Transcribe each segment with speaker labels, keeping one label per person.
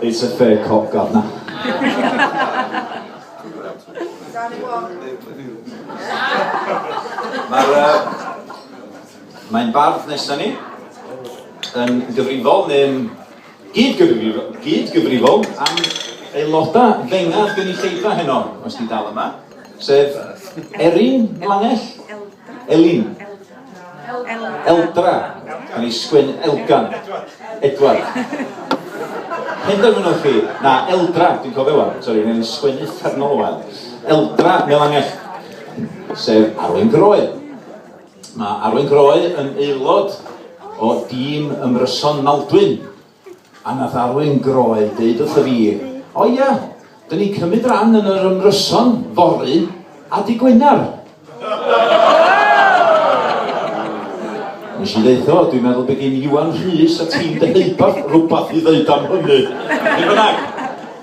Speaker 1: It's a fair cop, Governor. Mae'r... Mae'n bardd nesaf ni yn gyfrifol neu'n gyd-gyfrifol, gyd-gyfrifol am aelodau fengad gynulleidfa heno, os ti'n dal yma, sef Erin Langell. Elin. Eldra. Mae'n ei sgwyn Elgan. Edward. Hyn dymunwch chi? Na, Eldra, dwi'n cofio fo. Sori, mae'n ei sgwyn uffernol o wael. Eldra, Melangell. Sef Arwyn Groe. Mae Arwyn Groe yn aelod o dîm ymryson Maldwyn A nath Alun Groeg deud wrtho fi, O ia, dyn ni'n cymryd ran yn yr ymryson fory a dy Gwener. Nes i ddeitho, dwi'n meddwl bod gen Iwan Rhys a tîm Deheubarth rhywbeth i ddeud am hynny. Beth bynnag,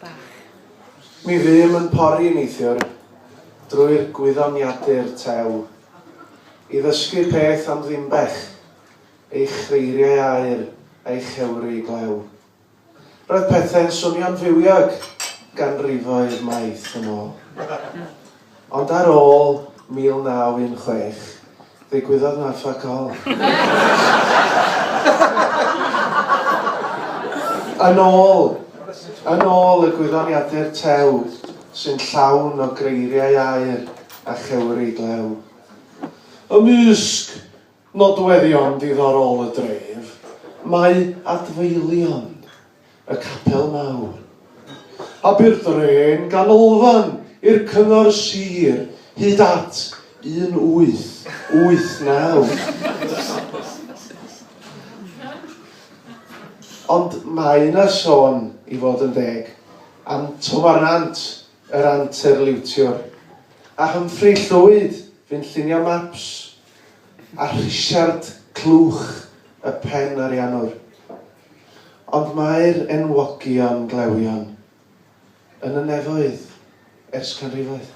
Speaker 1: bach. Mi fûm yn pori neithiwr drwy'r gwyddoniadur tew, i ddysgu peth am Ddimbech, ei chreiriau aur a'i chewri glew. Roedd pethau'n swnio'n fywiog ganrifoedd maith yn ôl. Ond ar ôl 1916, ddigwyddodd 'na fuck all. Yn ôl, yn ôl y gwyddoniadur tew sy'n llawn o greiriau aur a chewri glew. Ymysg nodweddion diddorol y dref, mae adfeilion. y Capel Mawr, Aberdrên Ganolfan i'r Cyngor Sir hyd at 1889. Ond mae yna sôn, i fod yn deg, am Twmar Nant, yr anterliwtiwr, a Humphrey Llwyd, fu'n llunio maps, a Rhisiart Clwch, y pen ariannwr. Ond mae'r enwogion glewion yn y nefoedd ers canrifoedd.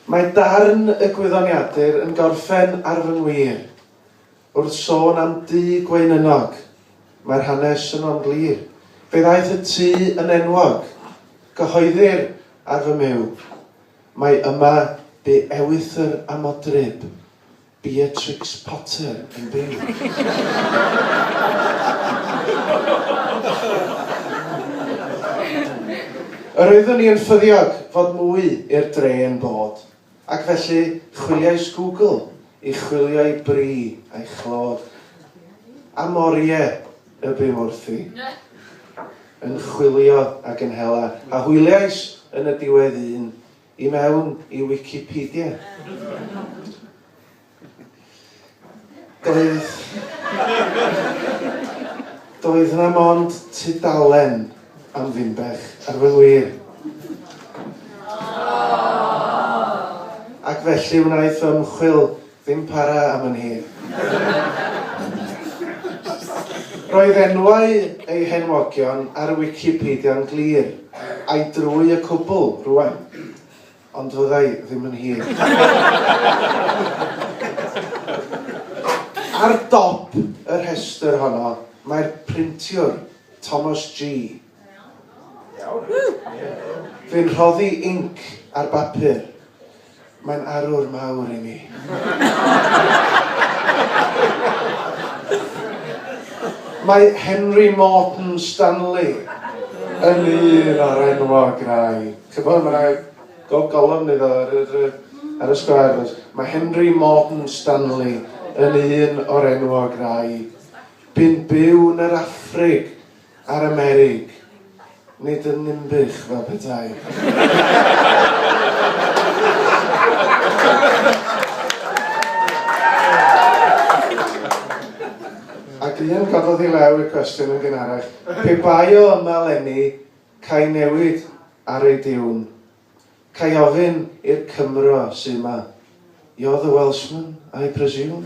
Speaker 1: Mae darn y gwyddoniadur yn gorffen ar fy ngwir. Wrth sôn am dŷ gweinynog, mae'r hanes yno'n glir. Fe ddaeth y tŷ yn enwog. Cyhoeddir ar fy myw, Mae yma bu ewythr a modryb, Beatrix Potter yn byw. Yr oeddwn i yn ffyddiog fod mwy i'r dre yn bod, ac felly chwiliais Google i chwilio'i bri a'i chlod. A Morie y byw wrthi, yn chwilio ac yn hela, a hwyliais yn y diwedd un I mewn i Wicipedia. Doedd... Doedd yna mond tudalen am Finbech, ar fy wir. Ac felly wnaeth ymchwil Ddim para am yn hir. Roedd enwau eu henwogion ar y Wicipedia'n glir, a'i drwy y cwbl, rwan. Ond fyddai ddim yn hir. Ar dop y rhestr honno mae'r printiwr, Thomas G. Fi'n rhoddi inc ar bapur. Mae'n arwr mawr i mi. Mae Henry Morton Stanley yn un o'r enwog rai. Ch'mod ma' 'na go- golofn iddo ar yr yy ar y sgwâr does? Mae Henry Morton Stanley yn un o'r enwog rai. Bu'n byw yn yr Affrig Ar y merig, nid yn Ninbych fel petai. Ac un cododd i law y cwestiwn yn gynharach, pe bai o yma leni, ca'i newid ar ei diwn. Cai ofyn i'r Cymro sy yma, You're the Welshman, I presume?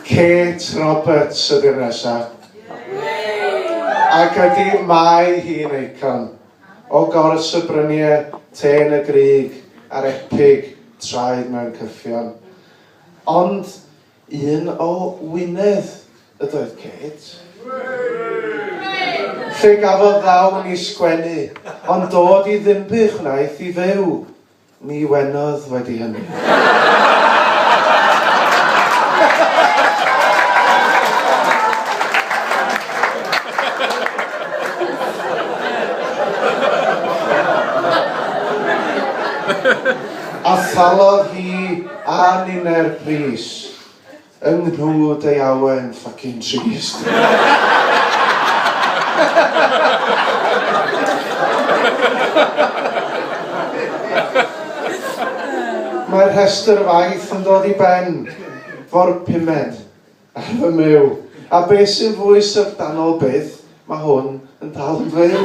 Speaker 1: Kate Roberts ydy'r nesaf. Ac ydy mae hi'n eicon o gors y bryniau te yn y grug a'r epig traed mewn cyffion. Ond un o Wynedd ydoedd Kate. Fe gafodd ddawn i sgwennu, ond dod i Ddinbych wnaeth i fyw. Ni wenodd wedi hynny. A thalodd hi A ninne'r pris, yng nghwd ei awen ffycin trist. Mae'r rhestr faith yn dod i ben, fo'r pumed. Ar fy myw. A beth sy'n fwy syfrdanol byth, mae hwn yn dal yn fyw!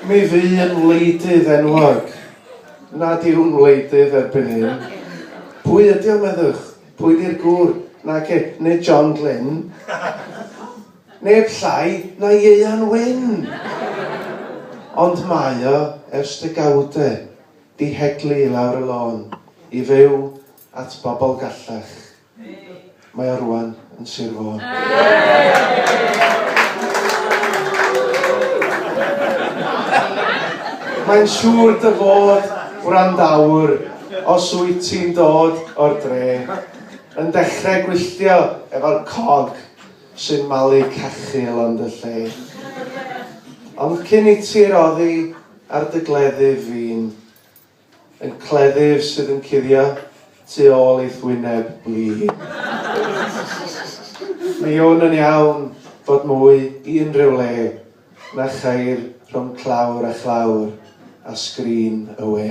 Speaker 1: Mi fu yn wleidydd enwog. Nad yw'n wleidydd erbyn hyn. Pwy ydi o, meddwch? Pwy 'di'r gŵr? Nage, nid John Glyn. Neb llai na Ieuan Wyn! Ond mae o ers degawdau 'di heglu i lawr y lôn i fyw at bobl gallach. Mae o rŵan yn Sir Fôn. Mae'n siŵr dy fod, gwrandawr, os wyt ti'n dod o'r dre, yn dechrau gwylltio efo'r cog Sy'n malu cachu o lan dy lle. Ond cyn i ti'r oddi ar dy gleddyf fin. Yn cleddyf sydd yn cuddio tu ôl i'th wyneb blin. Mi wn yn iawn fod mwy i unrhyw le na cheir rhwng clawr a chlawr a sgrin y we.